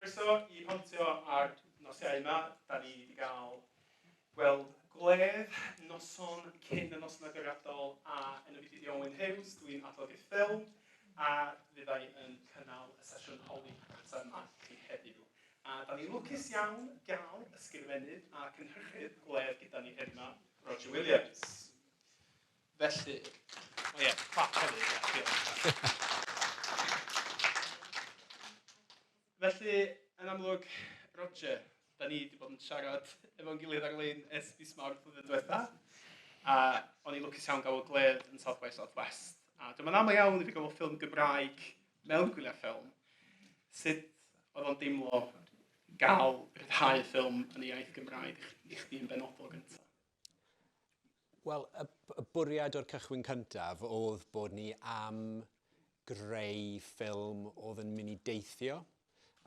Croeso i Pontio a'r nosiau yma. Da ni wedi cael gweld gwledd noson cyn y noson agoriadol a yn y byd i Owen Hughes, dwi'n adolygu ffilm a fyddai yn cynnal y sesiwn holi data yma chi heddiw. A da ni'n lwcus iawn gael ysgrifennydd a cynhyrchydd gwledd gyda ni heddiw yma, Roger Williams. Felly, o ie, clap hefyd. Felly, yn amlwg, Roger, da ni wedi bod yn siarad efo'n gilydd ar-lein ers fis mawrth flwyddyn diwetha, a o'n i'n lwcus iawn gael o gledd yn South by Southwest. A dyma'n aml iawn i fi gael o ffilm Gymraeg mewn gwyliau ffilm. Sut oedd o'n deimlo gael rhyddhau ffilm yn y iaith Gymraeg i chdi yn benodol gyntaf? Wel, y, y bwriad o'r cychwyn cyntaf oedd bod ni am greu ffilm oedd yn mynd i deithio,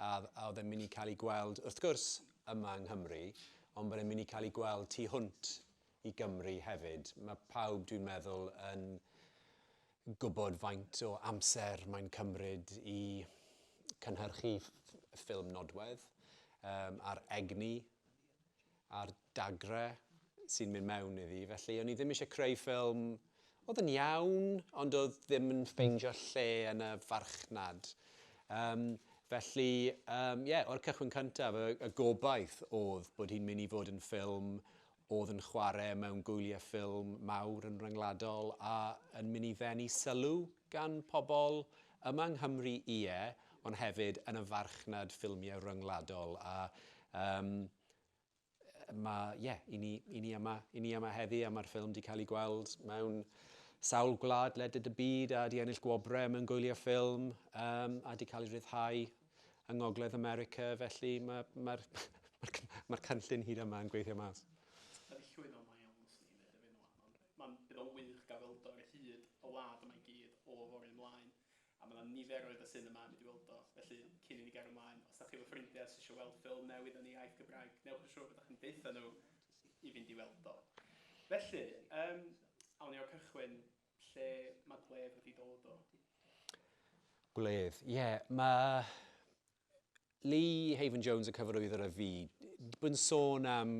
a, a oedd yn mynd i cael ei gweld, wrth gwrs, yma yng Nghymru, ond bod e'n mynd i cael ei gweld tu hwnt i Gymru hefyd. Mae pawb, dwi'n meddwl, yn gwybod faint o amser mae'n cymryd i cynhyrchu ffilm nodwedd um, a'r egni a'r dagrau sy'n mynd mewn iddi, felly o'n i ddim eisiau creu ffilm oedd yn iawn, ond oedd ddim yn ffeindio lle yn y farchnad. Um, felly, ie, um, yeah, o'r cychwyn cyntaf, y, y gobaith oedd bod hi'n mynd i fod yn ffilm oedd yn chwarae mewn gwyliau ffilm mawr yn ryngwladol a yn mynd i ddenu sylw gan pobl yma yng Nghymru, ie, ond hefyd yn y farchnad ffilmiau ryngwladol. A um, Mae, ie, yeah, i ni, i ni yma, i ni yma heddi a mae'r ffilm wedi cael ei gweld mewn sawl gwlad leded y byd a wedi ennill gwobrau mewn gwylio ffilm um, a wedi cael ei rhyddhau yng Ngogledd America, felly mae'r ma, ma, ma, ma, ma cynllun hyd yma yn gweithio mas. Mae'n llwyd o mae iawn swn i'n dweud erbyn rwan, ond mae'n bydd o'n wych gael weld o ar hyd y wlad yma i gyd o fory ymlaen. A mae 'na niferoedd o sinema yn mynd i weld o, felly cyn i ni gario mlaen, os 'da chi efo ffrindiau sy isio weld ffilm newydd yn ei iaith Gymraeg, newch yn siŵr bod chi'n deutha nhw i fynd i weld o. Felly, yym, awn ni o'r cychwyn, lle mae gwledd wedi dod o? Gwledd, ie, mae Lee Haven Jones yn cyfarwyddo ar y fi. Bw'n sôn am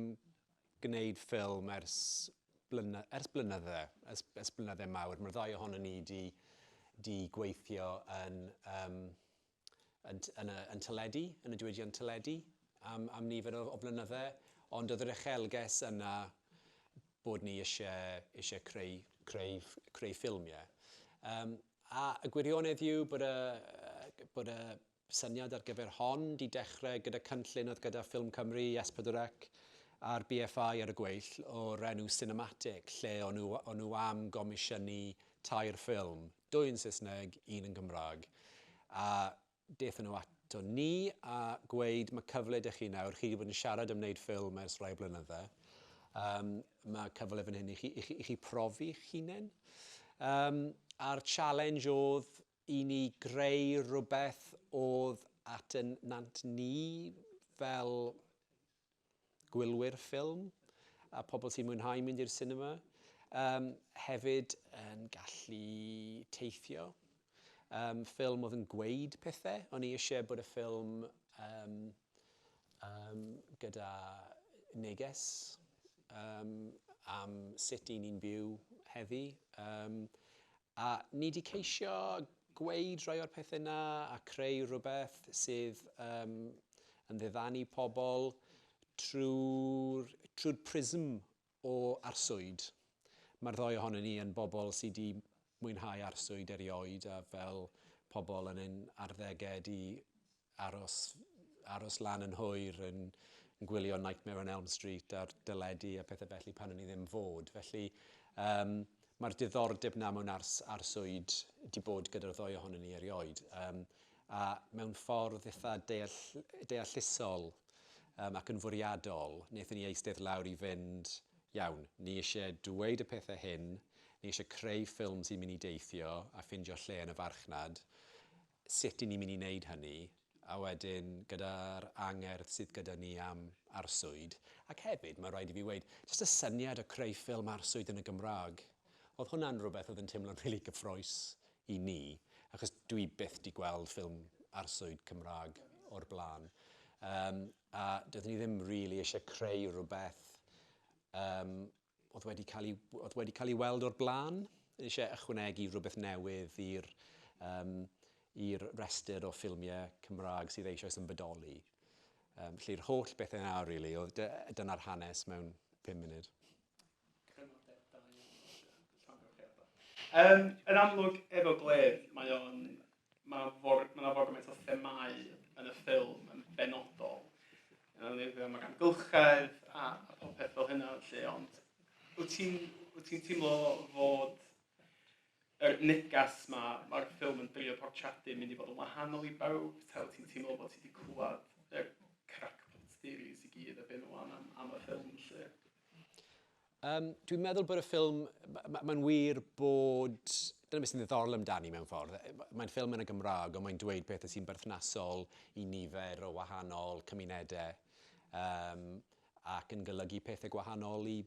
gwneud ffilm ers, blyna, ers blynydde, ers, ers blynydde mawr. Mae'r ddau ohono ni di, di gweithio yn, um, yn, yn, y, yn teledu, yn y diwydiant teledu, am, am nifer o, o blynydde. Ond oedd yr echelges yna bod ni eisiau, eisiau creu, creu, creu ffilmiau. Um, A y gwirionedd yw bod y, bod y syniad ar gyfer hon 'di dechrau gyda cynllun oedd gyda Ffilm Cymru, Yes 4C a'r BFI ar y gweill o'r enw Cinematic lle o'n nhw, o'n nhw am gomisiynu tair ffilm, dwy yn Saesneg, un yn Gymraeg. A Daethon nhw ato ni a gweud ma' cyfle 'da chi nawr, chi 'di bod yn siarad am wneud ffilm ers rai blynydde, yym ma' cyfle fan hyn i chi i chi i chi profi'ch hunen. Yym a'r challenge o'dd i ni greu rwbeth o'dd at 'yn nant ni fel gwylwyr ffilm a pobl sy'n mwynhau mynd i'r sinema. Um, hefyd yn gallu teithio. Um, ffilm oedd yn gweud pethau. O'n i eisiau bod y ffilm um, um, gyda neges um, am sut i ni'n byw heddi. Um, A ni 'di ceisio gweud rhai o'r pethe 'na a creu rhywbeth sydd yym yn ddiddanu pobl trwy'r trwy'r prism o arswyd. Mae'r ddou ohonon ni yn bobl sy 'di mwynhau arswyd erioed a fel pobl yn ein arddege 'di aros aros lan yn hwyr yn yn gwylio Nightmare on Elm Street a'r dyledu a pethau felly pan o'n i ddim fod. Felly um, mae'r diddordeb na mewn ars, arswyd di bod gyda'r ddoi ohonyn ni erioed. Um, a mewn ffordd eitha deall, deallusol um, ac yn fwriadol, wnaethon ni eistedd lawr i fynd, iawn, ni eisiau dweud y pethau hyn, ni eisiau creu ffilm sy'n mynd i deithio a ffindio lle yn y farchnad, sut y'n ni'n mynd i wneud hynny, a wedyn gyda'r angerdd sydd gyda ni am arswyd, ac hefyd, mae'n rhaid i fi weud, jyst y syniad o creu ffilm arswyd yn y Gymraeg, oedd hwnna'n rhywbeth oedd yn teimlo'n rili gyffrous i ni, achos dw i byth 'di gweld ffilm arswyd Cymraeg o'r blaen. Yym, a doeddwn i ddim rili isie creu rhywbeth yym oedd wedi cael ei, oedd wedi cael ei weld o'r blaen. Eisiau ychwanegu rhywbeth newydd i'r um, i'r rhestr o ffilmiau Cymraeg sydd eisoes yn bodoli. Um, felly'r holl beth yna, really, oedd dyna'r hanes mewn 5 munud. Um, yn amlwg, efo Gleb, mae o'n Mae for, mae yna for gymaint o themau yn y ffilm yn benodol. Mae gan gylchedd a, a popeth fel hynna, lle, ond wyt ti'n wyt ti'n teimlo fod yr negas ma, mae'r ffilm yn drio portradu yn mynd i fod yn wahanol i bawb, ta wyt ti'n teimlo bod ti wedi clywed y crackpot theories i gyd a byn nhw am, am y ffilm lle? Yym, dwi'n meddwl bod y ffilm... mae'n wir bod... dyna beth sy'n ddiddorol amdani mewn ffordd. Mae'n ffilm yn y Gymraeg, ond mae'n dweud pethau sy'n berthnasol i nifer o wahanol cymunedau, um, ac yn golygu pethau gwahanol i,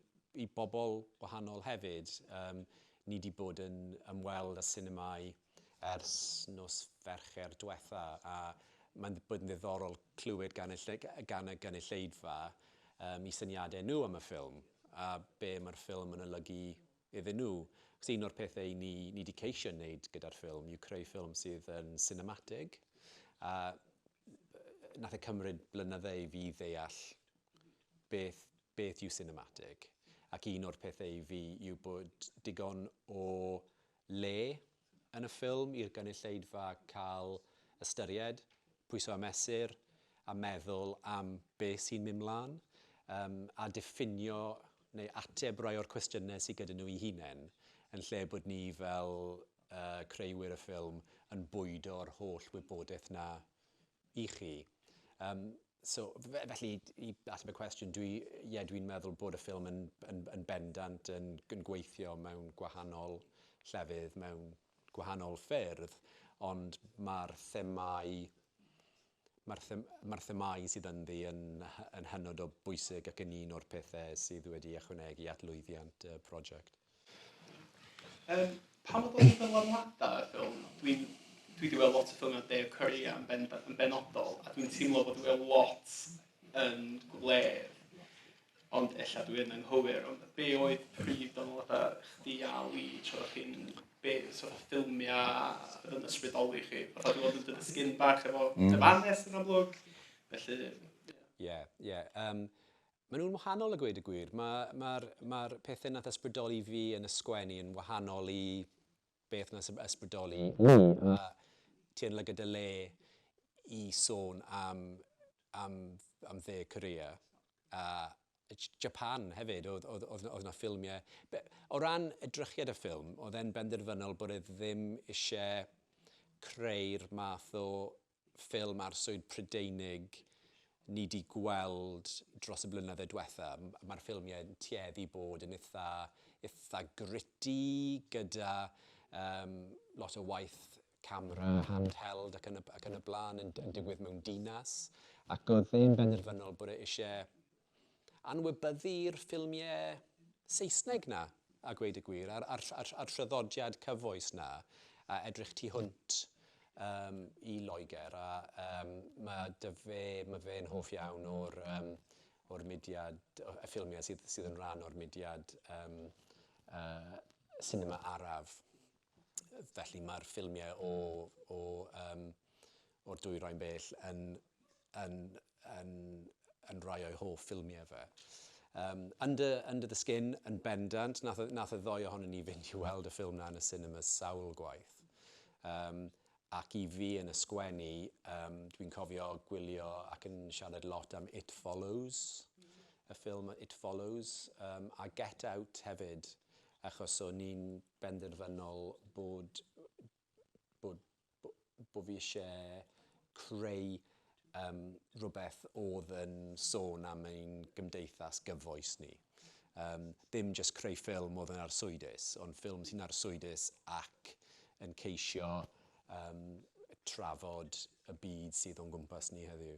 i bobl gwahanol hefyd. Um, ni wedi bod yn ymweld â sinemâu ers nos Fercher diwetha, a mae'n bod yn ddiddorol clywed gan y ll- gan y gynulleidfa yym eu syniadau nhw am y ffilm, a be mae'r ffilm yn olygu iddyn nhw. Achos un o'r pethau 'yn ni ni 'di ceisio wneud gyda'r ffilm yw creu ffilm sydd yn sinematig, a wnaeth e cymryd blynydde i fi ddeall beth beth yw sinematig, ac un o'r pethau i fi yw bod digon o le yn y ffilm i'r gynulleidfa cael ystyried, pwyso a mesur, a meddwl am be sy'n mynd mlaen, um, a diffinio neu ateb rai o'r cwestiynau sydd gyda nhw i hunain, yn lle bod ni fel uh, creuwyr y ffilm yn bwydo'r holl wybodaeth na i chi. Um, So, felly, i ateb y cwestiwn, dwi, ie, dwi'n meddwl bod y ffilm yn, yn, yn bendant yn, yn gweithio mewn gwahanol llefydd, mewn gwahanol ffyrdd, ond mae'r themau mae'r them, ma themau sydd ynddi yn, yn hynod o bwysig ac yn un o'r pethau sydd wedi ychwanegu at lwyddiant y prosiect. Yym, pan mae dod at ddylanwadau ar ffilm, dwi'n... dwi 'di weld lot o ffilmiau Dave Courier yn ben- yn benodol, a dwi'n teimlo bod o lot yn gwledd, ond ella dwi yn anghywir, ond be oedd prif ddylanwadau chdi a Lee tra o'ch chi'n... be sort of ffilmiau oedd yn ysbrydoli chi? Fatha dwi 'di bod yn dod yn sgin bach efo Dyfarnes yn amlwg, felly... Ie, ie. Yym... Maen nhw'n wahanol a gweud y gwir. Mae, mae'r, mae'r pethau nath ysbrydoli fi yn y sgwennu yn wahanol i beth nath ysbrydoli Lee. A ti yn lygad dy le i sôn am, am, am dde Korea. A Japan hefyd, oedd, oedd, oedd, oedd na ffilmiau. Be, o ran edrychiad y ffilm, oedd e'n benderfynol bod e ddim eisiau creu'r math o ffilm arswyd Prydeinig ni 'di gweld dros y blynydde dwetha. Mae'r ffilmiau yn tueddu bod yn itha, itha gritty, gyda um, lot o waith camera mm. handheld ac yn y, ac yn y blaen yn, yn digwydd mewn dinas. Ac oedd e'n benderfynol bod e eisiau anwybyddu'r ffilmiau Saesneg 'na, a gweud y gwir, a'r, a'r, a'r, a'r traddodiad cyfoes 'na, a edrych tu hwnt um, i Loegr, a um, mae dy fe, mae fe'n hoff iawn o'r, um, o'r mudiad, y ffilmiau sydd, sydd yn rhan o'r mudiad um, uh, cinema araf. felly mae'r ffilmiau o, o, um, o'r dwyrain bell yn, yn, yn, yn rhai o'i hoff ffilmiau fe. Um, Under, Under the Skin yn bendant, nath, nath y ddoi ohonyn ni fynd i weld y ffilm na yn y cinema sawl gwaith. Um, ac i fi yn y sgwennu, um, dwi'n cofio gwylio ac yn siarad lot am It Follows, y ffilm It Follows, um, a Get Out hefyd, achos o'n ni'n benderfynol bod bod bod bod fi isie creu yym rhywbeth oedd yn sôn am ein gymdeithas gyfoes ni. Um, dim jyst creu ffilm oedd yn arswydus, ond ffilm sy'n arswydus ac yn ceisio um, trafod y byd sydd o'n gwmpas ni heddiw.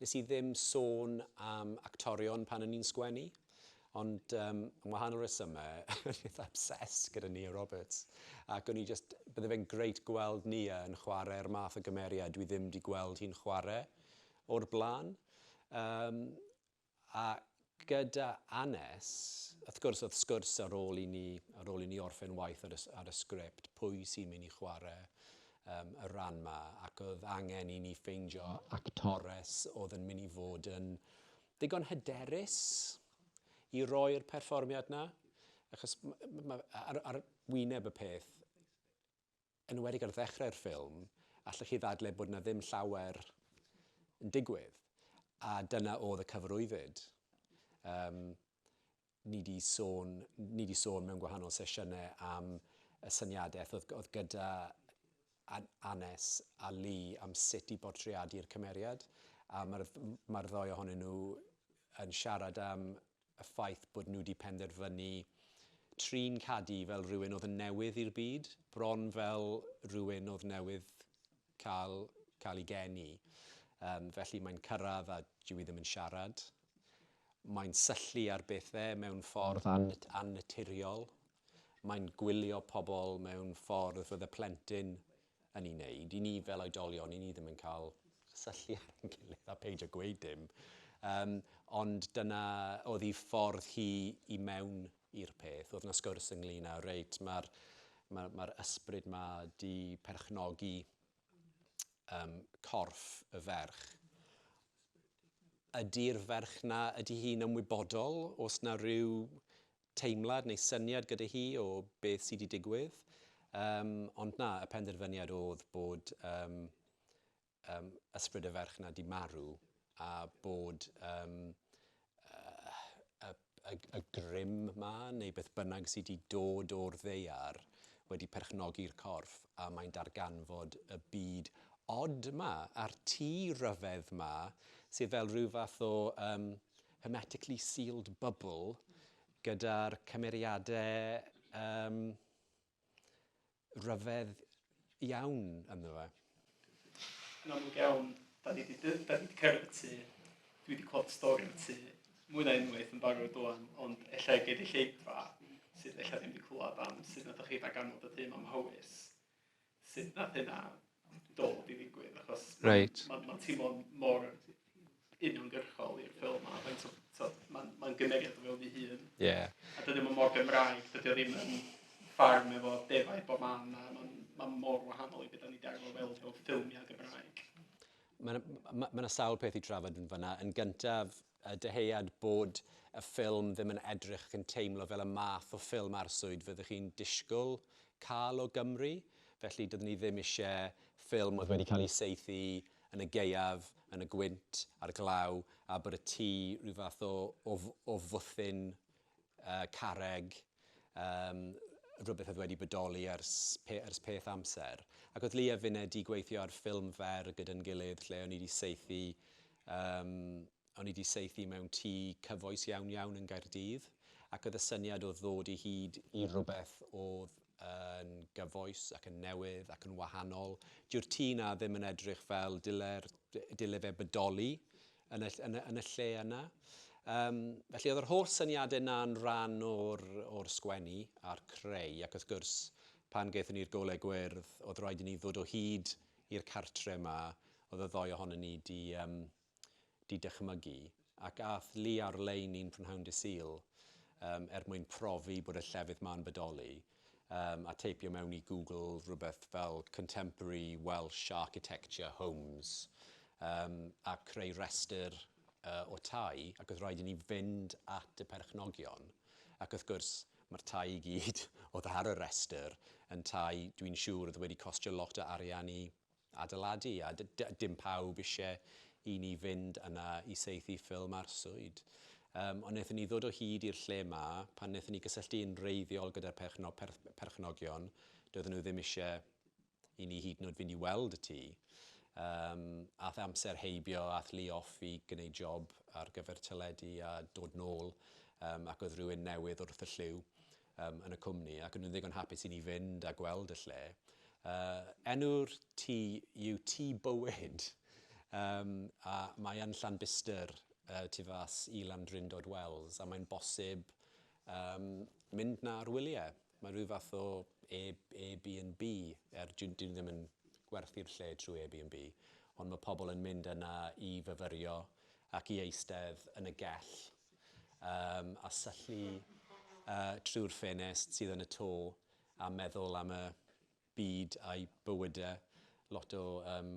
Nes i ddim sôn am actorion pan o'n i'n sgwennu, ond um, am wahanol resymau, o'n i'n obsessed gyda Nia Roberts. Ac o'n i just, bydde fe'n greit gweld Nia yn chwarae'r math o gymeriad dwi ddim wedi gweld hi'n chwarae o'r blaen. Um, A gyda Annes, wrth gwrs, oedd sgwrs ar ôl i ni, ar ôl i ni orffen waith ar y, ar y sgript, pwy sy'n mynd i chwarae um, y rhan ma, ac oedd angen i ni ffeindio actores oedd yn mynd i fod yn ddigon hyderus i roi'r perfformiad na. Achos ma, ma, ar, ar wyneb y peth, enwedig ar ddechrau'r ffilm, allech chi ddadle bod 'na ddim llawer yn digwydd, a dyna oedd y cyfarwyddyd. Um, ni wedi sôn, ni wedi sôn mewn gwahanol sesiynau am y syniadaeth oedd, oedd gyda Anes a Lee am sut i bortreadu'r cymeriad, a mae'r mae ddoi ohonyn nhw yn siarad am y ffaith bod nhw 'di penderfynu trin Cadi fel rhywun oedd yn newydd i'r byd, bron fel rhywun oedd newydd cael, cael ei geni. Um, felly mae'n cyrraedd a dwi ddim yn siarad. Mae'n syllu ar bethau mewn ffordd annaturiol. Mae'n gwylio pobl mewn ffordd fydde plentyn yn ei wneud. I ni fel oedolion, i ni ddim yn cael cysylltu â'n gilydd, a peidio gweud dim. Um, ond dyna oedd hi ffordd hi i mewn i'r peth. Oedd yna sgwrs ynglyn â, reit, mae'r ma, ma ysbryd ma di perchnogi um, corff y ferch ydy'r ferch na, ydy hi'n ymwybodol os na rhyw teimlad neu syniad gyda hi o beth sy 'di digwydd. Yym, ond na, y penderfyniad o'dd bod yym yym ysbryd y ferch 'na 'di marw, a bod yym yy y y y grym 'ma, neu beth bynnag sy 'di dod o'r ddaear, wedi perchnogi'r corff, a mae'n darganfod y byd od 'ma, a'r tŷ ryfedd 'ma, sydd fel rhyw fath o yym hermetically sealed bubble gyda'r cymeriadau um, rhyfedd iawn ynddo fe. Yn amlwg iawn, da ni wedi cerdded y tu, dwi wedi clod stori y tu, mwy na unwaith yn barod o'n, ond efallai gei di lleidfa sydd efallai ddim wedi clywed am sydd na ddech chi rhag anfod y tu am hawys. sut nath hynna dod i ddigwydd, achos Reit. ma'n ma teimlo'n mor uniongyrchol i'r ffilm ma, faint o t'od ma'n ma'n gymeriad o fewn 'i hun. Ie. A dydy o ddim mor Gymraeg, dydy o ddim yn ffarm efo defaid bob man, ma' ma'n ma' mor wahanol i be' 'dan ni 'di arfer weld mewn ffilmia Gymraeg. Ma' 'na ma' ma' 'na sawl peth i trafod yn fan 'na. Yn gyntaf Y dyhead bod y ffilm ddim yn edrych ac yn teimlo fel y math o ffilm arswyd fyddwch chi'n disgwyl cael o Gymru, felly dydyn ni ddim eisiau ffilm oedd wedi cael ei saethu yn y gaeaf, yn y gwynt, a'r glaw, a bod y tŷ rhyw fath o fwthyn Yy carreg, yym, rhywbeth oedd wedi bodoli ers pe- ers peth amser. Ac oedd Lee a finne 'di gweithio ar ffilm fer gyda'n gilydd lle o'n i 'di saethu, yym, o'n i 'di saethu mewn tŷ cyfoes iawn iawn yn Nghaerdydd, ac oedd y syniad oedd ddod i hyd i rhywbeth oedd yn gyfoes ac yn newydd ac yn wahanol. Dyw'r tŷ 'na ddim yn edrych fel dyle'r, dyle fe bodoli yn y, yn y, yn y lle yna. Um, felly oedd yr holl syniadau yna'n rhan o'r, or sgwennu a'r creu ac wrth gwrs pan gaethon ni'r golau gwyrdd oedd rhaid i ni ddod o hyd i'r cartre yma oedd y ddoi ohonyn ni di um, di dychmygu, ac aeth Lee ar-lein un prynhawn Dydd Sul yym er mwyn profi bod y llefydd ma'n bodoli yym a teipio mewn i Google rhywbeth fel Contemporary Welsh Architecture Homes yym a creu rhestr yy o tai ac oedd rhaid i ni fynd at y perchnogion ac wrth gwrs ma'r tai i gyd oedd ar y rhestr yn tai dwi'n siŵr oedd wedi costio lot o arian i adeiladu a dim pawb isie i ni fynd yna i saethu ffilm arswyd. Yym, ond wnaethon ni ddod o hyd i'r lle 'ma pan wnaethon ni gysylltu yn wreiddiol gyda'r perchno- perth- perchnogion, doedden nhw ddim isie i ni hyd yn oed fynd i weld y tŷ. Yym, ath amser heibio, ath Lee off i gwneud job ar gyfer teledu a dod nôl, um, ac oedd rhywun newydd wrth y llyw. um, yn y cwmni ac o'n nhw'n ddigon hapus i ni fynd a gweld y lle. Uh, enw'r tŷ yw Tŷ Bywyd um, a mae yn Llanbistr uh, tu fas i Landrindod Wells a mae'n bosib um, mynd na ar wyliau. Mae rhyw fath o Airbnb, er dyn ni ddim yn gwerthu'r lle trwy Airbnb, ond mae pobl yn mynd yna i fyfyrio ac i eistedd yn y gell um, a syllu uh, trwy'r ffenest sydd yn y to a meddwl am y byd a'i bywydau. Lot o, um,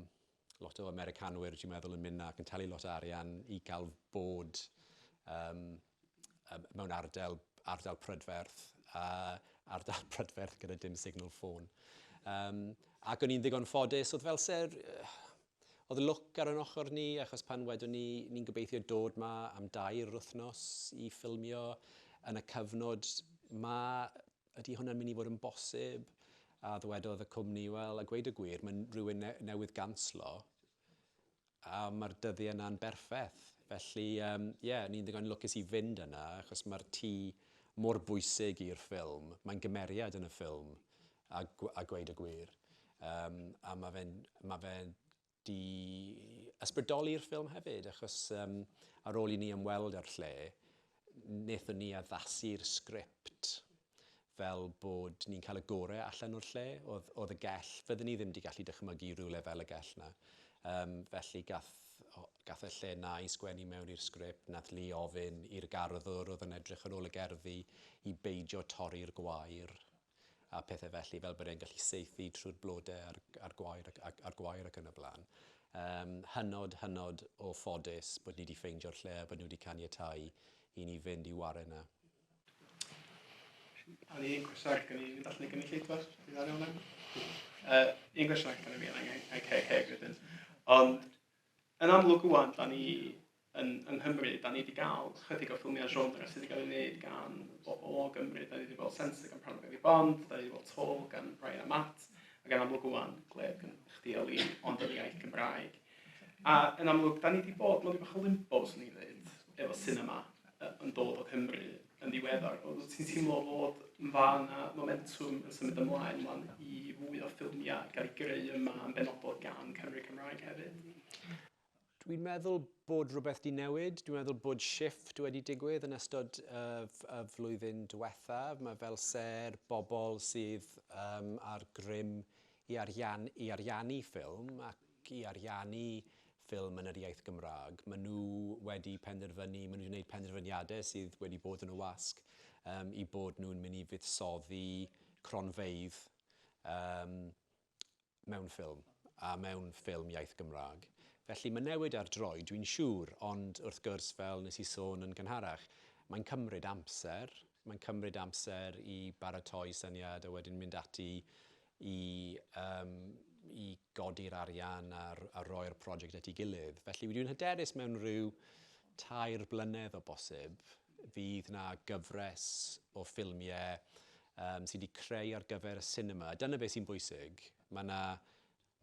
lot o Americanwyr, dwi'n meddwl, yn mynd ac yn talu lot o arian i gael bod um, mewn ardal, ardal prydferth, a ardal prydferth gyda dim signal ffôn. Um, ac o'n i'n ddigon ffodus, oedd fel ser, Oedd lwc ar yn ochr ni achos pan wedon ni ni'n gobeithio dod 'ma am dair wythnos i ffilmio yn y cyfnod 'ma, ydy hwnna'n mynd i fod yn bosib? A ddywedodd y cwmni, wel, a gweud y gwir, mae rhywun newydd ganslo a mae'r dyddiau 'na'n berffeth. Felly, ie, um, yeah, ni'n ddigon lwcus i fynd yna achos mae'r tŷ mor bwysig i'r ffilm, mae'n gymeriad yn y ffilm a a gweud y gwir yym a ma' fe'n ma' fe 'di ysbrydoli'r ffilm hefyd achos yym ar ôl i ni ymweld â'r lle nethon ni addasu'r sgript fel bod ni'n cael y gore allan o'r lle o'dd o'dd y gell fydden ni ddim 'di gallu dychmygu rywle fel y gell 'na yym felly gath o gath y lle 'na i sgwennu mewn i'r sgript nath Lee ofyn i'r garddwr o'dd yn edrych ar ôl y gerddi i beidio torri'r gwair a pethau felly, fel bod e'n gallu saethu trwy'r blodau a'r, a'r gwair ac, ac, a'r gwair ac yn y blaen. Um, hynod, hynod o ffodus bod ni wedi ffeindio'r lle a bod nhw wedi caniatau i ni fynd i wario yna. A'r un cwestiwn gen i, falle gen i lleitwas, i ddario hwnna? Uh, un cwestiwn gen i fi, ac hefyd. Ond, yn amlwg wwan, da ni yn yng Nghymru, da ni wedi cael chydig o ffilmiau genre sydd wedi cael ei wneud gan bobl o Gymru. Da ni wedi gweld Sensor gan Parnell Gary Bond, da ni wedi gweld Tall gan Brian a Matt, ac yn amlwg wwan, Gleb gan chdi a Lee, ond yn iaith Gymraeg. A yn amlwg, da ni wedi bod mewn rhywbeth o limbo, swn i'n dweud, efo cinema yn dod o Cymru yn ddiweddar. Oedd ti'n teimlo fod yn fa yna momentum yn symud ymlaen man i fwy o ffilmiau gael ei greu yma yn benodol gan Cymru Cymraeg hefyd? Dwi'n meddwl bod rhywbeth 'di newid. Dwi'n meddwl bod shift wedi digwydd yn ystod y y flwyddyn diwethaf. Mae fel se'r bobl sydd um, ar grym i, arian, i ariannu ffilm ac i ariannu ffilm yn yr iaith Gymraeg. Maen nhw wedi penderfynu, maen nhw wedi gwneud penderfyniadau sydd wedi bod yn y wasg um, i bod nhw'n mynd i fuddsoddi cronfeydd um, mewn ffilm, a mewn ffilm iaith Gymraeg. Felly mae'n newid ar droi, dwi'n siŵr, ond wrth gwrs, fel nes i sôn yn gynharach, mae'n cymryd amser, mae'n cymryd amser i baratoi syniad a wedyn mynd ati i, um, i godi'r arian a, a roi'r prosiect at ei gilydd. Felly dwi'n hyderus mewn rhyw tair blynedd o bosib, Fydd 'na gyfres o ffilmiau yym sy' 'di creu ar gyfer y sinema, dyna be' sy'n bwysig. Ma' 'na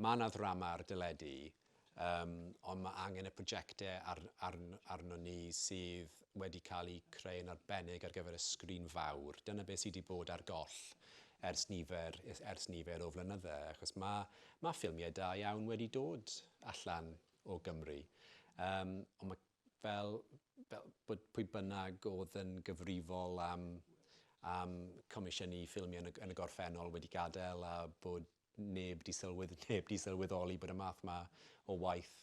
ma' 'na ddrama ar deledu yym ond ma' angen y projectau ar- arn- arnon ni sydd wedi cael eu creu'n arbennig ar gyfer y sgrin fawr. Dyna be' sy' 'di bod ar goll ers nifer ers ers nifer o flynydde achos ma' ma' ffilmiau da iawn wedi dod allan o Gymru yym ond ma' fel, fel bod pwy bynnag oedd yn gyfrifol am, am comisiynu ffilmiau yn y, yn y gorffennol wedi gadael a bod neb di sylwyd, neb di sylweddoli bod y math ma o waith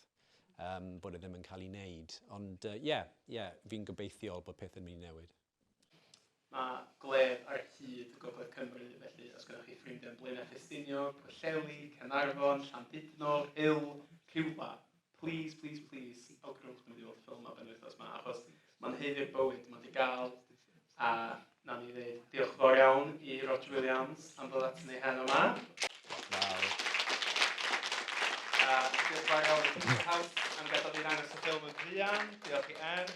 um, bod e ddim yn cael ei wneud. Ond ie, uh, yeah, yeah, fi'n gobeithiol bod pethau'n mynd i newid. Mae gwledd ar hyd Gogledd Cymru, felly os gyda chi ffrindiau yn Blaenau Ffestiniog, Pwllheli, Caernarfon, Llandudno, Hull, rhywle, please, please, please, awgrwch mynd i weld ffilm ar ben wythnos yma, achos mae'n heiddi'r bywyd, mae'n di gael, a na ni ddeud diolch fawr iawn i Roger Williams am ddod at ni heno yma. Diolch fawr iawn i House am gadael fi ddangos y ffilm yn fuan, diolch i Er,